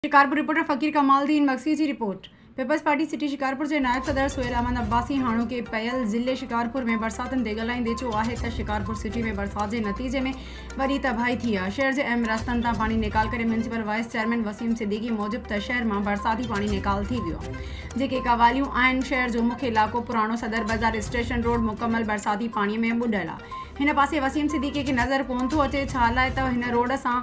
Shikarpur, reporter Faqir Kamal Uddin Magsi جي report, peoples party city Shikarpur جي نائب صدر سهيل احمد عباسي هاڻوڪي پيل ضلعي شڪارپور ۾ برساتن تي ڳالهائيندي چيو آهي ته شڪارپور سٽي ۾ برسات جي نتيجي ۾ وڏي تباهي ٿي آهي، شهر جي اهم رستن تان پاڻي نيڪال ڪري municipal vice chairman Waseem Siddiqui موجب ته شهر مان برساتي پاڻي نيڪال ٿي ويو جيڪي قواليون آهن، شهر جو مک علائقو پراڻو صدر بازار اسٽيشن روڊ مڪمل برساتي پاڻي ۾ ٻڏل آهي، هن پاسي وسيم صديقي کي نظر ڪونه ٿو اچي ڇالاء ته هن روڊ سان.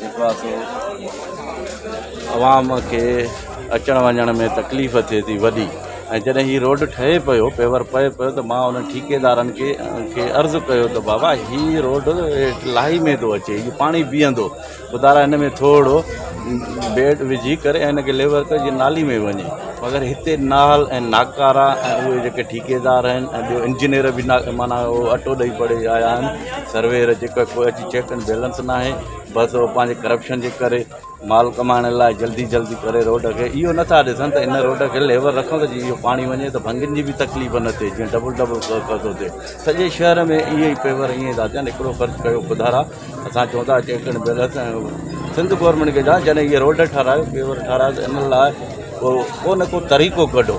جيڪا سو عوام کي اچڻ وڃڻ ۾ تڪليف ٿئي ٿي وڏي ۽ جڏهن هي روڊ ٺهي پيو پيور پئي پيو ته مان انهن ٺيڪيدارن کي کي عرض ڪيو ته بابا هي روڊ هيٺ لاهي ۾ ٿو اچي هي پاڻي بيهندو خدا را هن ۾ ٿورڙو بيڊ وجهي ڪري هن کي ليور ڪر جي نالي ۾ وڃي مگر هتي نال ۽ ناڪارا ۽ اهي جيڪي ٺيڪيدار آهن ۽ ٻيو انجنيئر به نا معنيٰ اهو اٽو ڏئي پڙي آيا آهن سروير جيڪو ڪو اچي چيڪ اينڊ بيلنس ناهي بس هو پنهنجي ڪرپشن جي ڪري مال ڪمائڻ لاء جلدي جلدي ڪري روڊ کي اهو نٿا ڏسن ته ان روڊ کي ليول رکو ته جيئن اهو پاڻي وڃي ته ڀنگين جي بي تڪليف نه ٿئي جيئن ڊبل ڊبل ڪرو ٿو ٿئي سڄي شهر ۾ اهي ئي پيور اهي ٿا ٿين هڪڙو خرچ ڪيو خدارا اسان چون ٿا check and balance Sindh government کي جڏهن اهي روڊ ٺهرايو پيور ٺهرايو ته ان لاء ڪو نه ڪو طريقو ڪڍو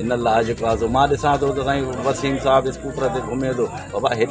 ان لاء جيڪو آهي سو مان ڏسان ٿو ته سائين وسيم صاحب اسڪوٽر تي گهمي ٿو بابا هيڏي